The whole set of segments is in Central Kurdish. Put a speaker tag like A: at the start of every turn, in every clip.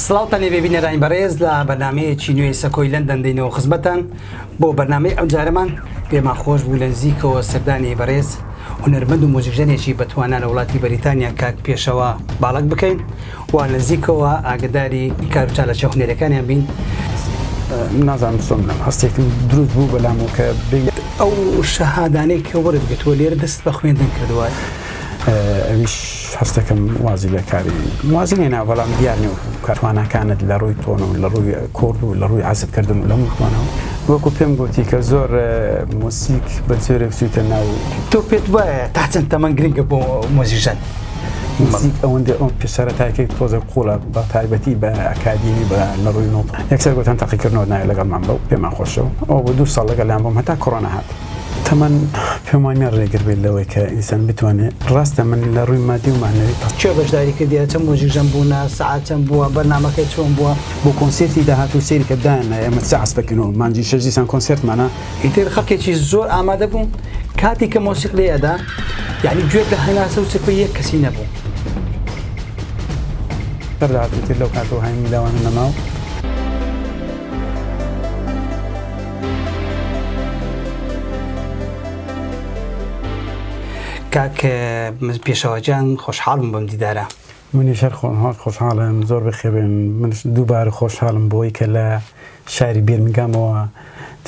A: سڵاو تەنێ بێ بینەرانی بەڕێز لە بەرنامەیەکی نوێی سەکۆی لەندەن دەینەوە خزمەتان بۆ بەرنامەی ئەمجارەمان پێمان خۆش بوو لە نزیکەوە سەردانی بەڕێز هونەرمەند و مۆزیکژەنێکی بەتوانا لە وڵاتی بەریتانیا کاک پێشەوە باڵک بکەین و لە نزیکەوە ئاگداری کار و چالەچە هونەرەکانیان بین
B: نازانم چۆن هەستێکم دروست بوو بەلام و کە بین ئەو
A: شەهادانەی کە وەرت گرتووە لێرە دەست بە خوێندن کردووە
B: ئەویش هەستەکەم وازی لە کاری وازی لێنا بەڵام دیارنی و کارتوانەکانت لە ڕووی تۆن و لە ڕووی کۆرد و لە ڕووی عزبکردن و لە مکمانەوە وەکو پێم گوتی کە زۆر موسیک بە جۆرێک سویتە ناو تۆ پێت وایە
A: تا چەند تەمەەن گرنگە بۆ مۆزیژەن موسیک
B: ئەوەندە ئەو پێسەرەتاکەی تۆزە قوڵە بە تایبەتی بە ئەکادیمی بە لە ڕووی نۆ یەکسەر گوتن تاقیکردنەوە نایە لەگەڵمان بەو پێمان خۆشەوە ئەو بۆ دوو ساڵ لەگەڵیان بۆم هەتا کۆرۆنا هات تەمەن پێم وانیە ڕێگر بێت لەوەی کە ئینسان بتوانێت ڕاستە من لە ڕووی مادی و معنەوی پڕ کێ بەشداری کردیە
A: چەند مۆجیژەم بوونە سەعات چەند بووە بەرنامەکە چۆن بووە بۆ کۆنسێرتی
B: داهاتوو سەیری کە دایاننا ئێمە سێ عەسپە کەین و مانگی شەش دیسان کۆنسێرتمانە ئیتر خەڵکێکی
A: زۆر ئامادە بوو کاتێک کە مۆسیق لێ ئەدا یعنی گوێت لە هەناسە و چرپەی یەک کەسی نەبوو
B: سەر داهاتوو تر لەو کاتەوە هایم لاوانە نەماوە
A: کاک پیشەوە جان خۆشحاڵم بم دیدارە منی شەر خۆم
B: هاات خۆشحاڵم زۆر بخێبێن من دووبارە خۆشحاڵم بۆی کە لە شاری بێرنگامەوە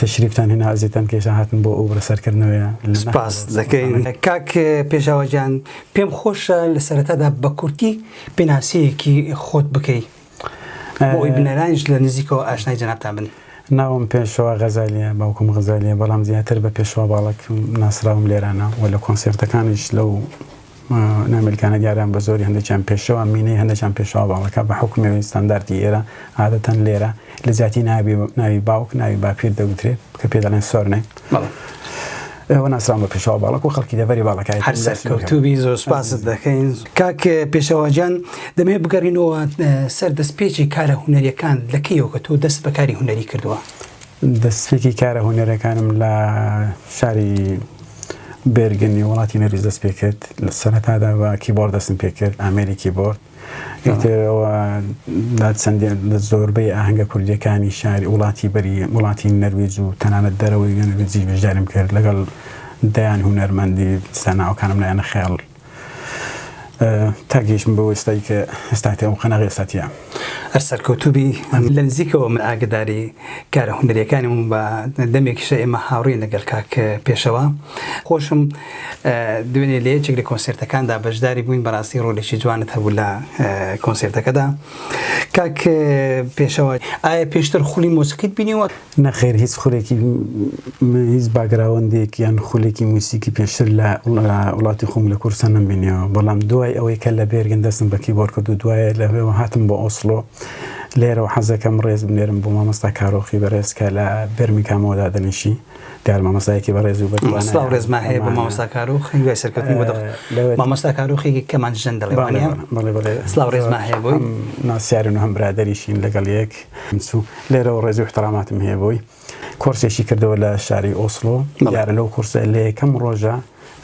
B: تەشریفتان هێنا ئازێتان کێشە هاتن بۆ ئەو بەسەرکردنەوەە سپاس
A: دەکەین کاک پێشاوەجان پێم خۆشە لە سەرەتادا بە کورتی پێناسەیەکی خۆت بکەیت بۆئەوەی بینەرانیش لە نزیکەوە ئاشنای جەنابتان بن. ناوم پێشەوا
B: غەزالییە، باوکم غەزالییە، بەڵام زیاتر بە پێشەوا باڵەک ناسراوم لێرانە و لە کۆنسێرتەکانیش لەو نامیلکانە دیاران بە زۆری هەندێکیان پێشەوا مینەی هەندێکیان پێشەوا باڵەکە بە حوکمەوەی ستانداردی ئێرە عادەتەن لێرە لە جیاتی ناوی باوک ناوی باپیر دەگوترێت کە پێ دەڵێن سۆرنەیم. ئێوە ناسران بە پێشەوە باڵک و خەڵکی دەبەری باڵەکانی هەر سەرکەوتوبی
A: زۆر سپاست دەکەین کاک پێشەواجان دەمێ بگەڕینەوە سەر دەست پێچی کارە هوەریەکان لەکەیەوە کە تۆ دەست بەکاری هوەری کردووە دەستێکی
B: کارە هوەرەکانم لە شاری بێرگنی وڵاتی نەریز دەست پێکرد لە سەرتادا بە کیبۆرد دەستم پێکرد ئامریکی بۆرد ئیتر ئەوە لە چەندین لە زۆربەی ئاهەنگە کوردییەکانی شاری وڵاتی بەری وڵاتی نەرویج و تەنانەت دەرەوەی نەرویجیش بەشداریم کرد لەگەڵ دەیان هونەرمەندی جا ناوەکانم لایەنە خەیاڵ تاگەیشتم بەوە ئێستای کە ئێستاتی ئەو قەناغ ئێستاتە هەر سەرکەوتوبی
A: لە نزیکەوە من ئاگداری کارە هونەریەکانی بووم بە دەمێکیشە ئێمە هاوڕێین لەگەڵ کاک پێشەوا خۆشم دوێنێ لە یەکێک لە کۆنسێرتەکاندا بەشداری بووین بەڕاستی ڕۆلێکی جوانت هەبوو لە کۆنسێرتەکەدا کاک پێشەوە ئایا پێشتر خولی مۆسیقیت بینیوە نەخێر هیچ
B: خولێکی هیچ باگراوەندێک یان خولێکی موسیکی پێشتر لە وڵاتی خۆم لە کورسە نەمبینیەوە بەڵام دوای ئەوەی کە لە بێرگن دەستم بە کیبۆر کرد و دوایە لە هێوە هاتم بۆ ئۆسلۆ لێرەوە حەزەکەم ڕێز بنێرم بۆ مامۆستا کارۆخی بەڕێزکە لە بەرمی کامەوەدا دەنیشی کار مامۆستایەکی بەڕێز و بەتوانای سڵاو ڕێزمان هەیە بۆ
A: مامۆستا کاروخ هیوای سەرکەوتنی بۆ دەخ لەوێت. مامۆستا کاروخێکی کەمان ژەن دەڵێ بەڵێ وانە بەڵێ بەڵێ سڵاو ڕێزمان هەیە بۆی هەم ناسیارن و هەم
B: برادەریشین لەگەڵ یەک منسو لێرەوە ڕێزی و احتراماتم هەیە بۆی کۆرسێکی کردەوە لە شاری ئۆسڵۆ بەڵێ. دیارە لەو کۆرسە لە یەکەم ڕۆژە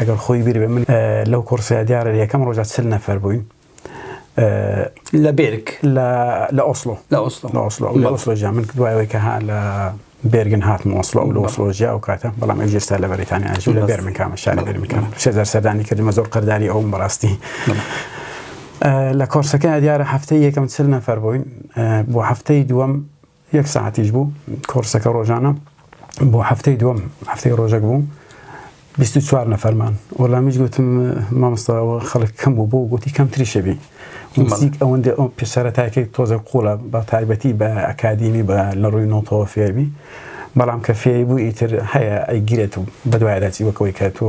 B: ئەگەر خۆی بیر بێ من ئە، لەو کۆرسەیە دیارە لە یەکەم ڕۆژە چل نەفەر بووین
A: لە بێرگ لە ئۆسلۆ
B: لە ئۆسلۆ لە ئۆسلۆ لە ئۆسلۆژیا من دوایەوەی کە ها لە بێرگن هاتم ئۆسلۆ لە ئۆسلۆژیا و کاتە بەڵام ئەو جێستا لە بەریتانیا ژوو لە بێرمن کامە شاری بێرمن کامە شێزار سەردانی کردمە زۆر قەرداری ئەوم بەڕاستی لە کۆرسەکە دیارە هەفتەی یەکەم چل نەفەر بووین بۆ هەفتەی دووەم یەک سەعاتیش بوو کۆڕسەکە ڕۆژانە بۆ هەفتەی دووەم هەفتەی ڕۆژەک بوو بیست و چوار نەفەرمان وەڵامیش گوتم مامۆستاەوە خەڵک کەم بوو بۆ گوتی کەم تریشەبی موزیک ئەوەندە ئەو پێسەرەتاکەی تۆزە قوڵە بە تایبەتی بە ئەکادیمی بە لە ڕووی نۆتەوە فێربی بەڵام کە فێری بوو ئیتر هەیە ئەیگرێت و بەدوایداچی وەکەوەی کە تۆ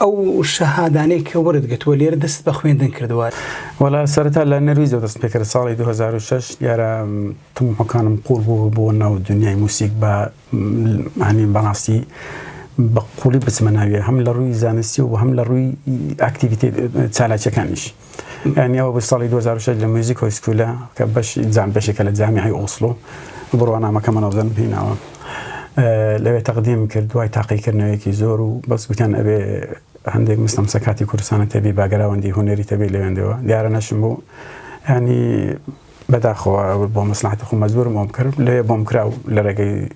B: ئەو
A: شەهادانەی کە وەرت گرتووە لێرە دەستت بە خوێندن کردووە؟ وەڵا سەرەتا
B: لە نەرویجەوە دەستم پێ کرد ساڵی دوو هەزار و شەش دیارە تەموحەکانم قووڵ بوو بۆ ناو دنیای موسیک بە هەنی بەڕاستی بە قووڵی بچمە ناویە هەم لە ڕووی زانستی و هەم لە ڕووی ئاکتیڤیتێت چالاکیەکانیش. ئەنیا وەبوو ساڵی دوو هەزار و شەش لە میوزیک هۆی سکوولە کە بەشی جام بەشێکە لە جامیعەی ئۆسڵۆ بڕوانامەکە مەنەزەم هیناوە لەوێ تەقدیم کرد دوای تاقیکردنەوەیەکی زۆر و بەس گوتیان ئەبێ هەندێک مستەم سەکاتی کوردستانە تەبی باگراوەندی هوەری تەبی لەوێندەوە دیارە نەشم بوو ینی بەداخەوە بۆ مەسلحاتی خۆ مەزبورم بۆم کرد لێ بۆم کرا و لە ڕێگەی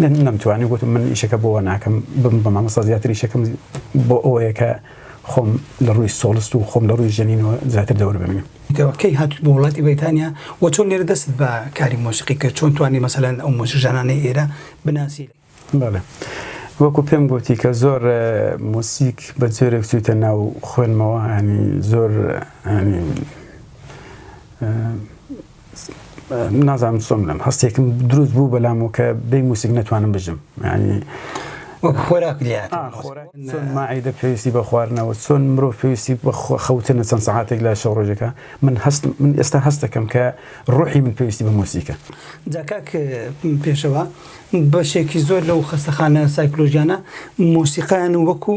B: نەم نەمتوانی گوتم من ئیشەکە بۆوە ناکەم بم بە مامۆستا زیاتر ئیشەکەم بۆ ئەوەیە کە خۆم لە ڕووی سۆڵست و خۆم لە ڕووی ژەنینەوە زیاتر دەور ببینم دەوە کەی هاتووت بۆ
A: وڵاتی بەریتانیا و چۆن لێرە دەستت بە کاری مۆسیقی کرد چۆن توانی مەسەلەن ئەو مۆسیقژانانەی ئێرە بناسی؟ بەڵێ
B: وەکو پێم گوتی کە زۆر مۆسیک بە جۆرێک چوویتە ناو خوێنمەوە هەنی زۆر هەنی نازانم چۆن بڵێم هەستێکم دروست بوو بەلامەوە کە بێ موسیک نەتوانم بژم ینی خۆراک
A: لات چۆن ماعیدە
B: پێویستی بە خواردنەوە چۆن مرۆڤ پێویستی بە خەوتنە چەند سعاتێک لە شەو ڕۆژەکە من هەست من ئێستا هەستەکەم کە ڕۆحی من پێویستی بە موسیکە جاکاک
A: پێشەوە بەشێکی زۆر لەو خەستەخانە سایکلۆژیانە مۆسیقایان وەکو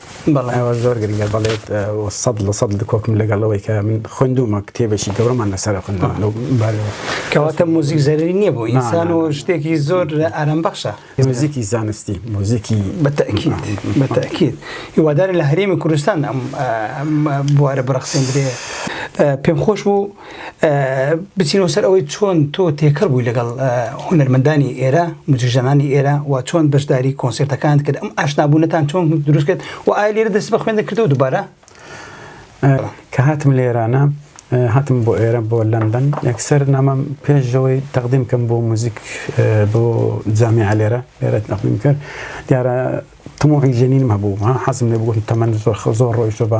B: بەڵێ ئەوە زۆر گرنگە بەڵێت سەد لە سەد لە کۆکم لەگەڵەوەی کە من خوندومە کتێبێکی گەورەمان لەسەر خوندوان لەو کەواتە موزیک
A: زەرری نییە بۆ ئینسان و شتێکی زۆر ئارام بەخشە موزیکی زانستی
B: موزیکی بەتەکیت
A: بەتەکیت هیوادارە لە هەرێمی کوردستان ئەم بوارە بڕەخسێندرێ پێم خۆش بوو بچینەوە سەر ئەوەی چۆن تۆ تێکەڵ بووی لەگەڵ هونەرمەندانی ئێرە مجیژەنانی ئێرە و چۆن بەشداری کۆنسرتەکان کرد ئەم ئاشنابوونەتان چۆن دروست کرد و ئایا لێرە دەست بە خوێندە کردو دووبارە
B: کە هاتم لێرانە هاتم بۆ ئێرە بۆ لەندەن یەکسەر نامەم پێشەوەی تەقدیم کەم بۆ موزیک بۆ جامیع لێرە لێرە تەقدیم کرد دیارە تموعی ژەنینم هەبوو حەزم لێ بگوتم تەمەند زۆر خە زۆر ڕۆیشتە بە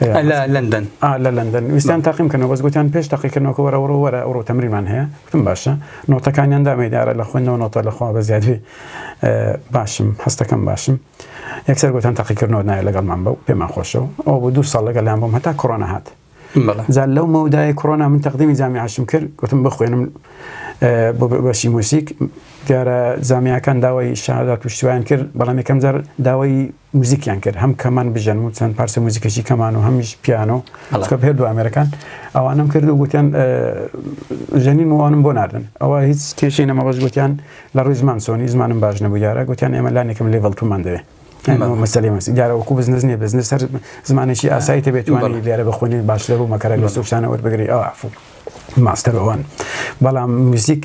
B: لە لەندەن لە لەندەن ویستان تاقیم کەنەوە بەس گوتیان پێش تاقیکردنەوەکە وەرە وەرە وەرە ئەوڕۆ تەمریمان هەیە گوتم باشە نۆتەکانیان دامەی دارە لە خوێنەوە نۆتە لە خوا بە زیادی باشم هەستەکەم باشم یەکسەر گوتان تاقیکردنەوە نایە لەگەڵمان بە و پێمان خۆشەوە ئەو بۆ دوو ساڵ لەگەڵیان بۆم هەتا کۆرۆنا هات زار لەو مەودای کۆرۆنا من تەقدیمی جامی عشم کرد گوتم بخوێنم بۆ بەشی موسیک دیارە زامیاکان داوای شادات و شتویان کرد بەڵام یەکەم جار داوای موزیکیان کرد هەم کەمان بژەن و چەند پارچە موزیکەشی کەمان و هەمیش پیانۆ کە پێ دو ئامێرەکان ئەوانم کرد و گوتیان ژەنین وانم بۆ ناردن ئەوە هیچ کێشی نەمە بەش گوتیان لە ڕووی زمان سۆنی زمانم باش نەبوو یارە گوتیان ئێمە لانێکم لێڤڵ تومان دەوێ مەسلی مەسی دیارەوەکو بزنس نیە بزنس سەر زمانێکی ئاسایی تەبێتوانی لێرە بخۆنی باشتر و مەکەرە لە سوشتانەوە بگری ئەوفو ماستەر ئەوان بەڵام موزیک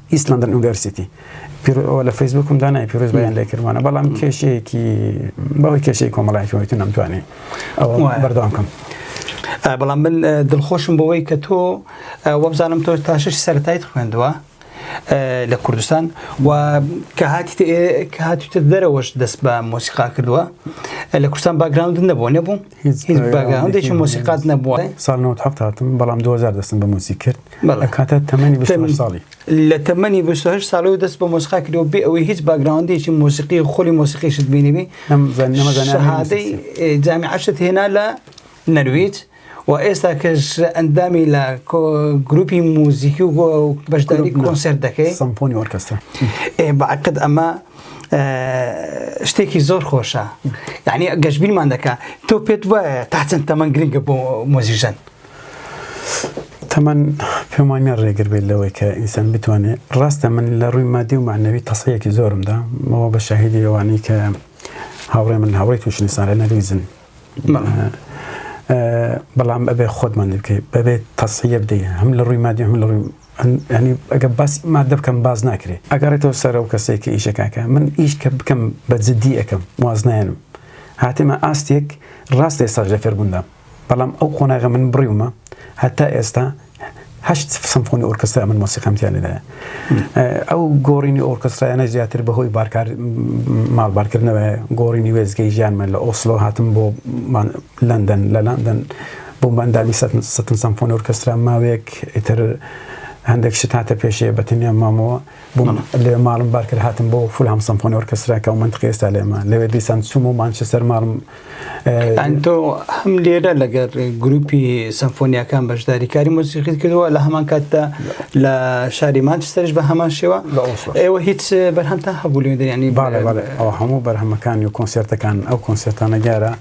B: East London University پیرۆ لە فەیسبوکم دا نای پیرۆز بەیان لێ کردوانە بەڵام کێشەیەکی بەوەی کێشەی کۆمەڵایەتی وەیتە نەمتوانی ئەوە بەردەوام کەم. بەڵام
A: من دڵخۆشم بەوەی کە تۆ وەبزانم تۆ تاشش سەرتایت خوێندووە لە کوردستان و کە هاتی کە هاتوتە دەرەوەش دەست بە مۆسیقا کردووە لە کوردستان باگراوند نەبوو نەبوو هیچ مۆسیقات نەبووە ساڵ 1970 هاتم
B: بەڵام 2000 دەستم بە موسی کرد کاتە تەمەنی ساڵی لە تەمەنی
A: 28 ساڵی و دەست بە مۆسیقا کردەوە بێ ئەوەی هیچ باگراوندێکی مۆسیقی خۆلی مۆسیقیشت بینیبی شەهادەی جامی عشت هێنا لە نەرویج و ئێستا کەش ئەندامی لە گروپی موزیکی و بەشداری کۆنسرت دەکەی سمپۆنی ئۆرکسترا ئێ
B: بەعقد
A: ئەمە شتێکی زۆر خۆشە یعنی گەشببینمان دەکە تۆ پێت وایە تا چەند تەمەەن گرنگە بۆ مۆزیژەن
B: تەمەەن پێمانە ڕێگر بێت لەوەی کە ئینسان بتوانێت ڕاستە من لە ڕووی مادی و معنەوی تەسەیەکی زۆرمدا مەوە بە شاهدی ئەوانەی کە هاوڕێ من هاوڕی تووشنیسان لە نەرویزن بەڵام ئەبێ خۆتمان بکەیت بەبێت تەسیە بدەیت هەم لە ڕووی مادی هەم لە ڕووی یانی ئەگەر باسی ماددە بکەم باس ناکرێ ئەگەڕێتەوە سەر ئەو کەسەی کە ئیشەکاکە من ئیش کە بکەم بە جددی ئەەکەم وازنایەنم هاتمە ئاستێک ڕاست ئێستاش لە فێربووندام بەڵام ئەو قۆناغە من بڕیومە هەتا ئێستا هەشت سمفۆنی ئۆرکسترا من مۆسیقام تیا لێدایە ئەو گۆڕینی ئۆرکسترایانە زیاتر بەهۆی بارکار ماڵبارکردنەوە گۆڕینی وێزگەی ژیانمان لە ئۆسلۆ هاتم بۆ لەندەن، لە لەندەن بووم بە ئەندامی سەتن سەمفۆنی ئۆرکێسترا، ماوەیەک ئیتر هەندێک شت هاتە پێشێ بە تەنیام مامەوە، بووم لەوێ ماڵم بار کرد هاتم بۆ فولهام سەمفۆنی ئۆرکێسترا کە ئەو مەنتقی ئێستا لێمە، لەوێ دیسان چووم و مانچستەر ماڵم. یانی تۆ
A: هەم لێرە لەگەڵ گرووپی سەمفۆنیاکان بەشداری کاری مۆسیقیت کردووە، لە هەمان کاتدا لە شاری مانچستەریش بە هەمان شێوە، ئێوە هیچ بەرهەمتان هەبوو لەوێ؟ یانی. بەڵێ بەڵێ، ئەوە هەموو
B: بەرهەمەکانی و کۆنسێرتەکان، ئەو کۆنسێرتانە دیارە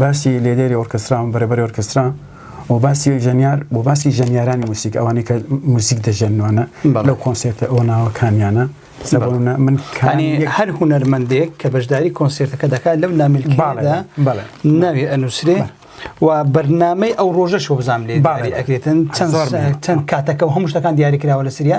B: باسی لێدێری ئۆرکسترا و بەرەبەری ئۆرکسترا و باسی ژەنیار و باسی ژەنیارانی موسیک ئەوانەی کە موسیک دەژەنوانە لەو کۆنسێرتە ئەو ناوەکانیانە سەبوونە من کانی هەر
A: هوەرمەندێک کە بەشداری کۆنسێرتەکە دەکات لەو نامیلکادا ناوی ئەنووسرێ و بەرنمەی ئەو ڕۆژەش بزانام لێ ئەکرێتن چەند چەند کاتەکە و هەموو شتەکان دیاریکراوە لە سریا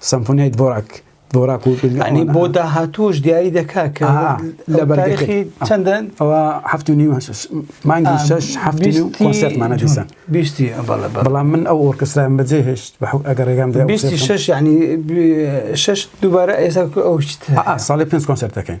B: سمفۆنیای دڤۆراک دۆراک و ئەنی
A: بۆ داهاتوش دیاری دەکات کە لە بەرێکی چەندن ئەوە هەفت و
B: نیو مانگی شش هەفتی و کۆنسرتمانە دیسان بیستی بەڵام من ئەو ئۆرکستران بەجێ هێشت بە حوک ئەگەر ڕێگام دێ بیستی شش یعنی
A: شش دووبارە ئێستا ئەو ساڵی پێنج
B: کۆنسرت دەکەین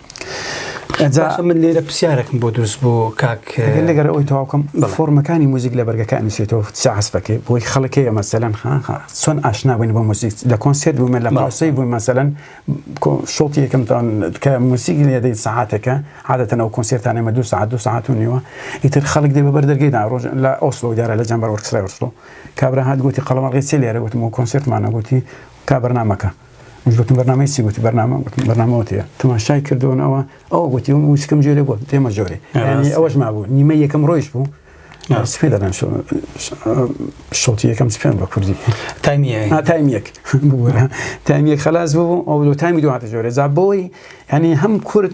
A: باشە من لێرە پرسیارێکم بۆ دروست بۆ کاک لەگەر ئەوی تەواوکەم
B: فۆرمەکانی موزیک لە بەرگەکە ئەنووسێتەوە سەعسپەکەی بۆی خەڵکەیە مەسەلەن چۆن ئاشنا بووین بۆ موزیک لە کۆنسێت بوومە لە ماوسەی بووین مەسەلەن شڵتی یەکەم تاون کە موزیک لێدەی سەعاتەکە عادەتەن ئەو کۆنسێرتانە مە دو ساعت دو ساعت و نیوە ئیتر خەڵک دێ بە بەردەرگەیدا ڕۆژ لە ئۆسلۆ دیارە لە جەمبەر وەرخرای وەرسڵۆ کابرا هاات گوتی قەڵەمەڵگەی سێ لێرە وتم و کۆنسێرتمانە گوتی کا بەرنمەکە مش گوتم بەرنامەی چی گوتی بەرنامە گوتم بەرنامەوەتەیە تەماشای کردوون ئەوە ئەو گوتی و وشکم جێرە بوو دێمە جۆرێ ئەوەش مابوو نیمە یەکەم ڕۆیش بوو سپێ دەدەن شڵتی یەکەم سپێن بە کوردی
A: تایمیەک
B: تایمیەک خلاص بوو ئەو لۆ تامی دواتە جۆرە جا بۆی هەنی هەم کورد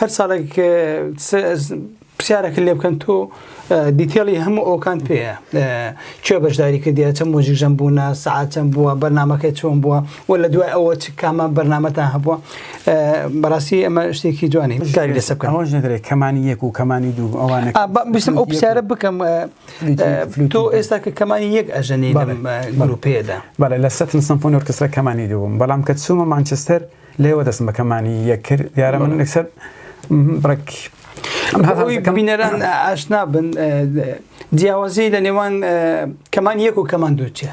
A: هەر ساڵێک پرسیارەکە لێ بکەن تۆ دیتێڵی هەموو ئەوکان پێەیە چێ بەشداری کردیا چەند مۆژیژەم بوونا سعاتەم بووە بەرنمەکە چۆن بووە و لە دوای ئەوە چ کامە بەرنمەتا هەبووە بەڕاستی ئەمە شتێکی جوانی کاری لەسە بکەن ئەوش نەدرێت کەمانی
B: یەک و کەمانی دوو ئەوانە بستم ئەو پرسیارە
A: بکەم تۆ ئێستا کە کەمانی یەک ئەژەنی گروپێدا بەڵێ لە سەتن سمفۆن
B: ئۆرکسترا کەمانی دووم بەڵام کە چوومە مانچستەر لێوە دەستم بە کەمانی یەک کرد دیارە من لەسەر بڕێک
A: کەمینەران ئاشنا بن جیاوازی لە نێوان کەمان یەک و کەمان دووچە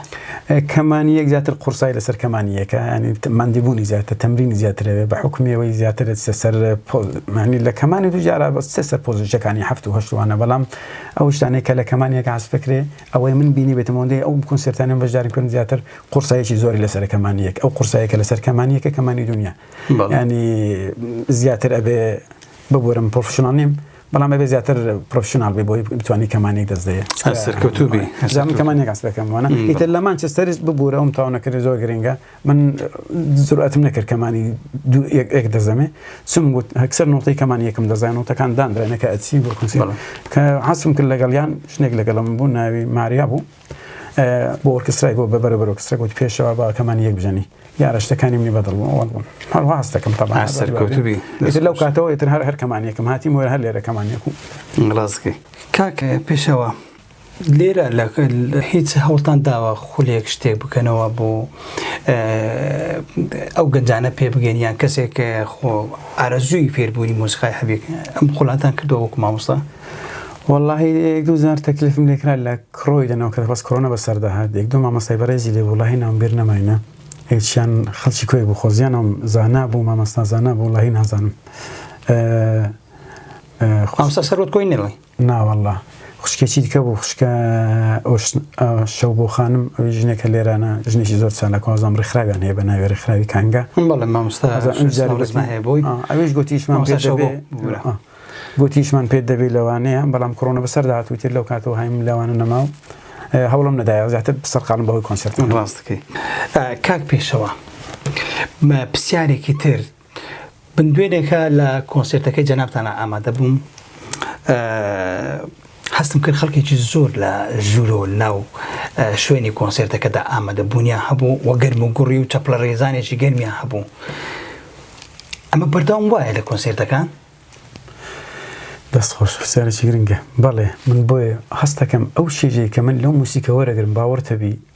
A: کەمانی
B: یەک زیاتر قورسای لەسەر کەمانی یەکە ینی مادیبوونی زیاتر تەمرینی زیاترەوێ بە حکومیەوەی زیاتر سەر پۆزمانی لە کەمانی دوجارە بەس سەر پۆزیشەکانی هەفت و هەشتوانە بەڵام ئەو شتانێک کە لە کەمانیەکە عسفکرێ ئەوەی من بینیبێتم ئەوەندەی ئەو کونسێرتانەم بەشداریم کردن زیاتر قوڕسایەکی زۆری لەسەرە کەمانی یەک ئەو قوڕسایە کە لەسەر کەمانی یەکە کەمانی دونیا ینی زیاتر ئەبێ ببورم پرۆفشنال نیم بەڵام ئەبێ زیاتر پرۆفشنال بێ بۆی بتوانانی کەمانی دەست دەیە سەرکەوتوبی
A: زانم کەمانێک ئەس
B: دەکەم وانە ئیتر لە مانچستەرست ببوورە ئەوم تاونەکرد زۆر گرنگە من جورئەتم نەکرد کەمانی دوو یەک ئێک دەزەمێ چم گوت هەکسەر نۆتەی کەمانی یەکم دەزای نۆتەکان دانراینە کە ئەچی بۆ کنسی کە حەسم کرد لەگەڵیان شنێک لەگەڵم بوو ناوی ماریا بوو بۆ ئۆرکسترای گۆ بە بەرە بەرۆکسرە گوت پێشەوە با کەمانی یەک بژەنی دیارە شتەکانی منی بەدڵ بوون هەروە هەستەکەم تەبا سەرکەوتبی
A: لەو کاتەوە تر
B: هەر هەر کەمانیەکەم هاتی مۆر هەر لێرە کەمانیەکو گڵازکەی
A: کاکە پێشەوە لێرە هیچ هەوڵتان داوە خولێک شتێک بکەنەوە بۆ ئەو گەنجانە پێ بگەن یان کەسێک خۆ ئارەزووی فێربوونی مۆسیقای حەبێک ئەم خولاتان کردەوە وەکو مامۆستا واللهی
B: یەک دوو جار تەکلیفم لێکرا لە کڕۆی دەنەوە کە بەس کڕۆنە بەسەر دەهات یەک دوو مامۆستای بەڕێزی لێ وڵی ناوم بیر نەماینە هیچیان خەڵکی کوێ بوو خۆزیانم زانا بوو مامۆستا زانا بوو وڵی نازانم
A: خۆستا سەرۆت کۆی نەڵی ناوەڵا
B: خوشکێ چیت کە بوو خوشکە شەو بۆ خانم ئەوی ژنێکە لێرانە ژنێکی زۆر چالاکوازم ڕێکخراویان هەیە بە ناوێ ڕێکخراوی کانگە بەڵێ مامۆستاهەیە
A: بۆی ئەویش گوتیشمان
B: گوتیشمان پێت دەبێت لەوانەیە بەڵام کڕۆنە بەسەر داهاتوو تر لەو کاتەوە هایم لەوانە نەماو هەوڵم نەدایە زیاتر سەرقالم بەهۆی کۆنسرت ڕاستەکەی
A: کاک پێشەوە پرسیارێکی تر من دوێنێکە لە کۆنسێرتەکەی جەنابتانە ئامادە بووم هەستم کرد خەڵکێکی زۆر لە ژوورۆ ناو شوێنی کۆنسێرتەکەدا ئامادە بوونیان هەبوو وە گەرم و گوڕی و چەپڵە ڕێزانێکی گەرمیان هەبوو ئەمە بەردەوام وایە لە کۆنسێرتەکان
B: دەست خۆش پرسیارێکی گرنگە بەڵێ من بۆیە هەستەکەم ئەو شێژەی کە من لەو موسیکەوە دەگرم باوەڕتەبی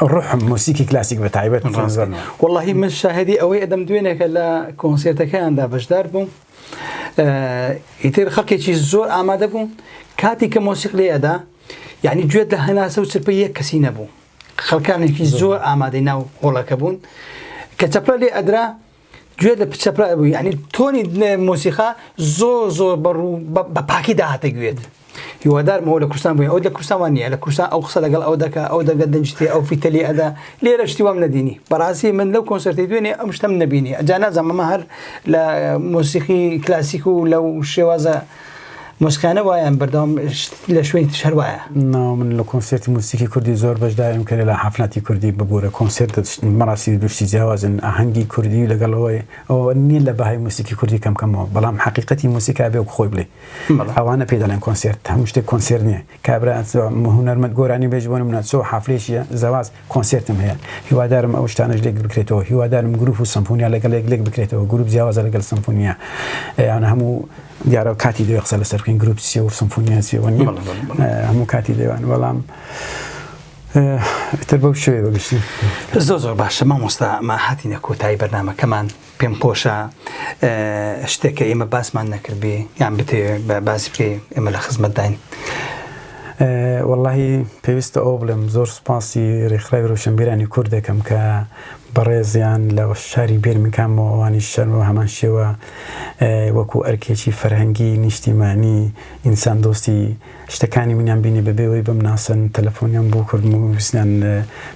B: ڕحم موسیکی کلاسیک بە تایبەت وڵی
A: من شاهدی ئەوەی ئەدەم دوێنێکە لە کۆنسێتەکەیاندا بەشدار بووم ئیتر خەڵکێکی زۆر ئامادە بوو کاتی کە مۆسیق لێ ئەدا یعنی گوێت لە هەناسە و چرپە یەک کەسی نەبوو خەڵکانێکی زۆر ئامادەی ناو هۆڵەکە بوون کە چەپلە لێ ئەدرا گوێ لە پچە پرا بوو یعنی تۆنی مۆسیقا زۆر زۆر بەڕوو بە پاکی داهاتە گوێت هیوادارمەوە لە کوردستان بووی ئەو لە کوردستانوان نیە لە کوردستان ئەو قسە لەگەڵ ئەو دەکە ئەو دەگە دەنجتی ئەو فیتەلی ئەدا لێرە شتی وام نەدینی بەڕاستی من لەو کۆنسرتی دوێنێ ئەم شتم نبینی ئەجا نازانمە هەر لە مۆسیقی کلاسیک و لەو شێوازە موسکانە وایان بەردەوام لە شوێنی تش هەر وایە. ناو من لە کۆنسێرتی
B: موسیکی کوردی زۆر بەشداریم کە لە حەفلاتی کوردی ببوورە کۆنسێرت مەراسیمی دوشتی جیاوازن ئاهەنگی کوردی لەگەڵ ئەوەی ئەوە نییە لە بەهای موسیکی کوردی کەم کەمەوە بەڵام حەقیقەتی موسیکا بێ وەک خۆی بڵێ ئەوانە پێ دەڵێن کۆنسێرت هەموو شتێک کۆنسێرت نییە کابرا چ هونەرمەند گۆرانی بێژ بۆ نمونە چ حەفلەیەکیە زەواج کۆنسێرتم هەیە هیوادارم ئەو شتانەش لێک بکرێتەوە هیوادارم گروپ و سەمفۆنیا لەگەڵ یەک لێک بکرێتەوە گروپ جیاوازە لەگەڵ سەمفۆنیا یان هەموو دیارە کاتی دەوێ قسە لەسەر بکەین گروپ چیە و سەمفۆنیا چیەوە نیە هەموو کاتی دەوان بەڵام تر بەو شوێ بەگشتی زۆر زۆر باشە
A: مامۆستا ئەمە هاتینە کۆتایی بەرنمەکەمان پێم خۆشە شتێک کە ئێمە باسمان نەکردبێ یان بتێ باسی بکەی ئێمە لە خزمەتداین واللهی
B: پێویستە ئەو بڵێم زۆر سپاسی ڕێکخراوی ڕوشنبیرانی کورد دەکەم کە بەڕێزیان لە شاری بێرمکانەوە ئەوانی شەرەوە هەمان شێوە وەکو ئەرکێکی فەرهەنگی نیشتیمانی ئینسان دۆستی شتەکانی منیان بینی بەبێ ئەوەی بمناسن تەلەفۆنیان بۆ کردم و ویستیان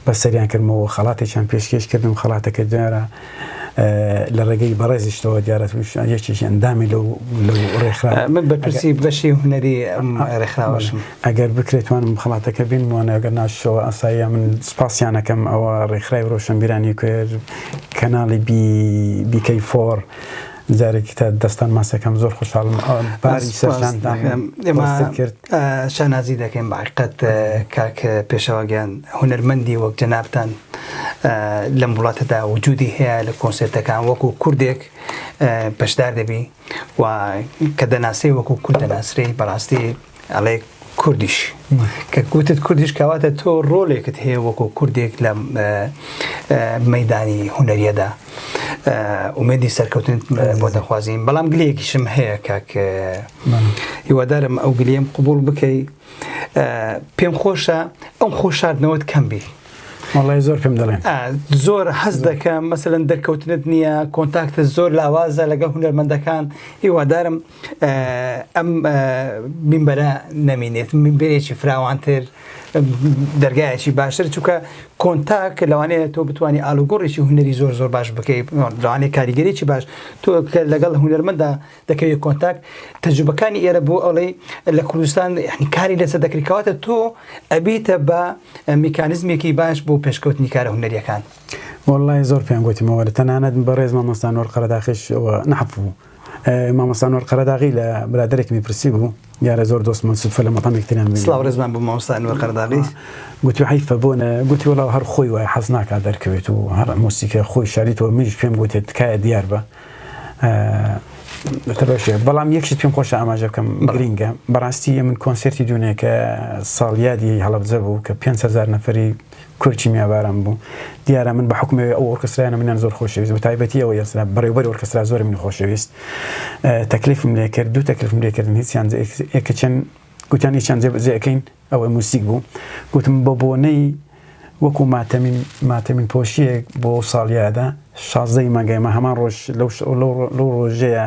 B: بەسەریان کردمەوە خەڵاتێکیان پێشکێش کردم خەڵاتەکە دیارە لە ڕێگەی بەڕێزیشتەوە دیارە یەکێکی ئەندامی لەو لەو ڕێکخرا من بەپرسی
A: بەشی هونەری ڕێکخراوەشم ئەگەر بکرێتوانم خەڵاتەکە
B: بین وانەگەر ناشەوە ئاساییە من سپاسیانەکەم ئەوە ڕێکخرای ڕۆشنبیرانی کوێر کەناڵی بی بیکەی فۆر جارێکی تر دەستان ماچ دەکەم زۆر خۆشحاڵم باری سەرشانتان ئێمە کرد
A: شانازی دەکەین باقەت کاک پێشەواگەیان هونەرمەندی وەک جەنابان لەم وڵاتەدا وجودی هەیە لە کۆنسێتەکان وەکو کوردێک بەشدار دەبی و کە دەناسێ وەکو کورد دەناسرێ بەڕاستی ئەڵێ کوردیش کە کوتت کوردیش کەواتە تۆ ڕۆلێکت هەیە وەکو کوردێک لە مەدانی هوەریەدا ئومێدی سەرکەوتن بۆ دەخوازیین بەڵام گلەیەکیشم هەیە کاک هیوادارم ئەو گلیم قوبول بکەی پێم خۆشە ئەم خۆشاردنەوەت کەم بی وڵی زۆر پێم
B: دەڵێن زۆر حەز
A: دەکەم مەسەن دەرکەوتنت نییە کۆنتاکتە زۆر لاوازە لەگە هوەرمەندەکان هیوادارم ئەم مینبەرە نەمینێت مینبەرێکی فراوانتر دەرگایەکی باشتر چونکە کۆنتاک لەوانەیە تۆ بتانی ئالوگۆڕێکی هوەری زۆر زۆر باش بکەیت لەوانەیە کاریگەرێکی باش تۆ لەگەڵ هوەرمەدا دەکەوێت کۆنتاک تەجوبەکانی ئێرە بۆ ئەڵێ لە کوردستان کاری لەسەر دەکرکاتە تۆ ئەبیتە بە میکانزمێکی باش بۆ پێشکەوتنی کارە هوەریەکان وڵی زۆر
B: پێنگوتیمەوە لە تەنانەت بەڕێزمە مەستان وەرقەرەداخش نەحبوو. مامۆستا نور قەرەداغی لە برادەرێکمی پرسی بوو دیارە زۆر دۆستمان سودفە لە مەقامێک تێنان بینی سڵاو ڕێزمان بۆ مامۆستا
A: ئەنوەر قەرەداغی گوتی حەیفە
B: بۆ نە گوتی وەڵا هەر خۆی وای حەز ناکات دەرکەوێت و هەر مۆسیکە خۆی شاریتەوە منیش پێم گوتێت تکایە دیار بە بەتەبەشێ بەڵام یەکشت پێم خۆش ئاماژە بکەم گرینگە بەڕاستی من کۆنسرتی دوونێکە ساڵیادی هەڵبجە بوو کە 500 نەفری کورد کیمیاباران بوو دیارە من بە حوکمەوەی ئەو ئۆرکسترایانە منیان زۆر خۆشەویست بە تایبەتی ئەوە یەسرا بەڕێوبەری ئۆرکسترا زۆر من خۆشەویست تەکلیفم لێ کرد دوو تەکلیفم لێ کردن هیچیان ئێکە چەند گوتیان هیچیان جێبەجێەکەین ئەوەی موسیک بوو گوتم بە بۆنەی وەکو ماتەمین ماتەمین پۆشیەک بۆ ساڵیادە شازدەی مانگای مە هەمان ڕۆژ لەو لەو ڕۆژەیە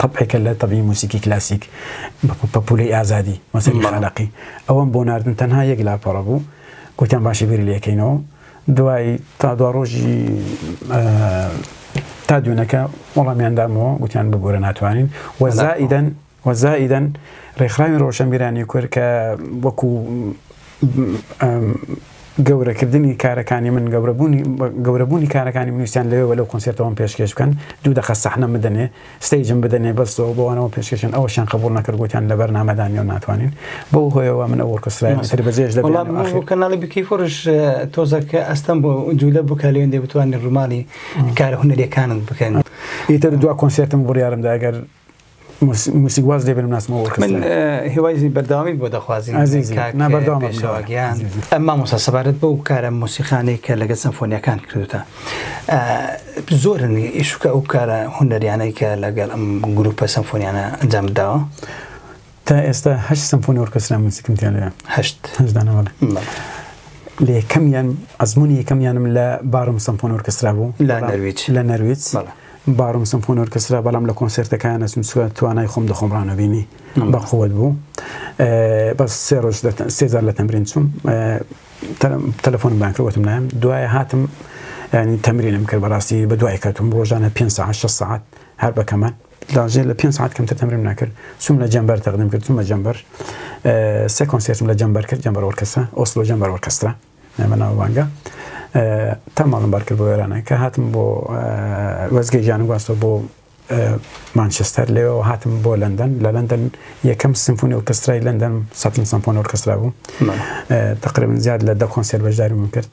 B: تەبعێکە لە تەبعی موسیکی کلاسیک بە پەپولەی ئازادی مەسەلی خانەقی ئەوەم بۆ ناردن تەنها یەک لاپەڕە بوو گوتیان باشە بیری لەکەینەوە دوای تا دوا ڕۆژی تا دوێنەکە وەڵامیاندامەوە گوتیان ببوورە ناتوانین وەزائیدەن وەزائیدەن ڕێکخراوی ڕۆشنبیرانی کورد کە وەکو گەورەکردنی کارەکانی من گەورەبوونی گەورەبوونی کارەکانی من ویستیان لەوێوە لەو کۆنسێرتەوەم پێشکێش بکەن دوو دەقە سەحنەم بدەنێ ستەیجم بدەنێ بەس و بەوانەوە پێشکێشیان ئەوەشیان قبوڵ نەکرد گوتیان لە بەرنامەدا نیە و ناتوانین بەو هۆیەوە من ئەو ئۆرکسترایەم تر بەجێش دەبێ وەڵا من بۆ کەناڵی
A: بکەی فڕش تۆزە کە ئەستەم بۆ جوولە بکە لەوێن دەبتوانین ڕووماڵی کارە هونەریەکانت بکەن ئیتر دوا
B: کۆنسێرتم بڕیارم دا گەر موسیک واز لێ بنم ناسمەوە من هێوای
A: بەردەوامی بۆ دەخوازی بەردەوامیان ئەمما موسا سەبارەت بۆ کارە موسیقانێک کە لەگە سمفۆنیەکان کردوتە زۆرن ئیشکە ئەو کارە هوەریانەی کە لەگەڵ ئەم گروپە سمفۆنیانە ئەنجام داوە تا
B: ئێستا هەشت سمفۆنی ئۆرکسترا موزیکم تێ لێ هەشت هەشت دانە بەڵێ
A: بەڵێ.
B: لە یەکەمیان ئەزمموی یەکەمیانم لە بارم سمفۆن ئۆرکسترا بوو لە نەرویج.
A: لە
B: نەرویج بەڵێ. بارم سمفۆن ئۆرکسترا بەڵام لە کۆنسێرتەکان ئەچووم چووە توانای خۆم دەخۆم ڕانەبینی نعم. بە قووەت بوو ئێ، بەس سێ ڕۆژ لە تە- سێ جار لە تەمرین چووم ئێ، تەلە- تەلەفۆنم بان کرد وتم نایم دوای هاتم ینی تەمرینم کرد بەڕاستی بە دوای کەوتم ڕۆژانە پێنج ساعەت شەش ساعەت هەر بە کەمان لاژێ لە پێنج سەعات کەمتر تەمرینم نەکرد، چووم لە جەمبەر تەقدیم کرد، چوومە جەمبەر سێ کۆنسێرتم لە جەمبەر کرد، جەمبەر ئۆرکێسترا، ئۆسلۆ جەمبەر ئۆرکێسترا بە ناوبانگە. تا ماڵم بار کرد بۆ ئێرانە کە هاتم بۆ وەزگەی ژیانم گواستەوە بۆ مانچستەر لێەوە هاتم بۆ لەندەن لە لەندەن یەکەم سمفۆنی ئۆرکسترای لەندەن سەتن سمفۆن ئۆرکسترا بوو تقریبن زیاد لە دە کۆنسێر بەشداریم کرد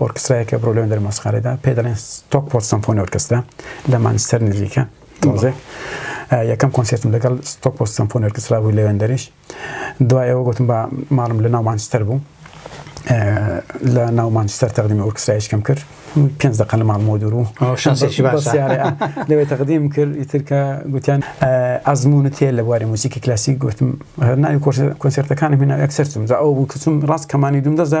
B: ئۆرکسترایەک کە بڕۆ لەوێن دەرمۆسیقارێدا پێ دەڵێن ستۆکپۆرت سەمفۆنی ئۆرکسترا لە مانچستەر نزیکە تۆزێ یەکەم کۆنسێرتم لەگەڵ ستۆکپۆرت سەمفۆنی ئۆرکسترا بوو لەوێن دەریش دوای ئەوە گوتم بە ماڵم لە ناو مانچستەر بوو لە ناو مانچستەر تەقدیمی ئۆرکسترایشکەم کرد پێنج دقە لە ماڵ مۆدور و شانسێکی باش لەوێ تەقدیم کرد ئیترکە گوتیان ئەزمونت هەیە لە بواری موسیکی کلاسیک گوتم هەرناوی کۆنسێرتەکانم هێنا ئەکسەرچم جا ئەو بوو کەچم ڕاست کەمانی دوم دەزا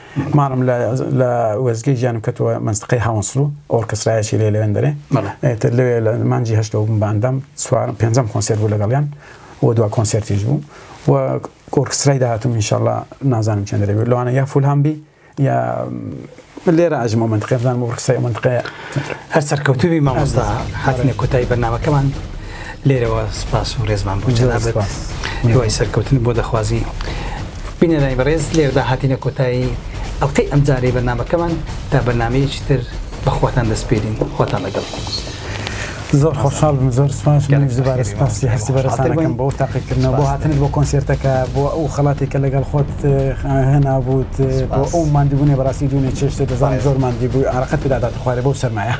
B: مانم لە لە وێستگەی ژیانم کەتووە مەنستقەی هاونسڵ و ئۆرکسترایەکی لێ لەوێن دەرێ بەڵێ ئێتر لەوێ لە مانجی هەشتەوە بووم باندەم چوارم پێنجەم کۆنسێرت بوو لەگەڵیان و دوا کۆنسێرتیش بوو و ئۆرکسترای داهاتوم ئینشاءاللە نازانم چێن دەرێ لەوانە یا فولهام بی یا لێرە ئەژمەوە منتقێ بزانم ئۆرکسترای ئەو منتقەیە هەر سەرکەوتوبی
A: مامۆستا هاتنە کۆتایی بەرنمەکەمان لێرەوە سپاس و ڕێزمان بۆ جەنابەت هیوای سەرکەوتن بۆ دەخوازی بینەرانی بەڕێز لێرەدا هاتینە کۆتایی ئەڵلقەی ئەمجارەی بەرنمەکەمان تا بەرنمەیەکی تر بەخواتان دەستپێرین خۆتان لەگەڵ.
B: زۆر خۆشحاڵ بم زۆر سپاس زبارە سپاسی هەستی بەرەسانەکەم بۆ تاقیکردنەوە بۆ هاتنت بۆ کۆنسێرتەکە بۆ ئەو خەڵاتی کە لەگەڵ خۆت هێنا بووت بۆ ئەو مادیبوونێ بەڕاستی دوونێ چێشتێ دەزانانی زۆر مادی بووی ئارەقەت پێدادات خوارێ بۆ سەرمایە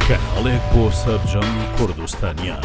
C: کەناڵێک بۆ سەرجەم کوردستانیان.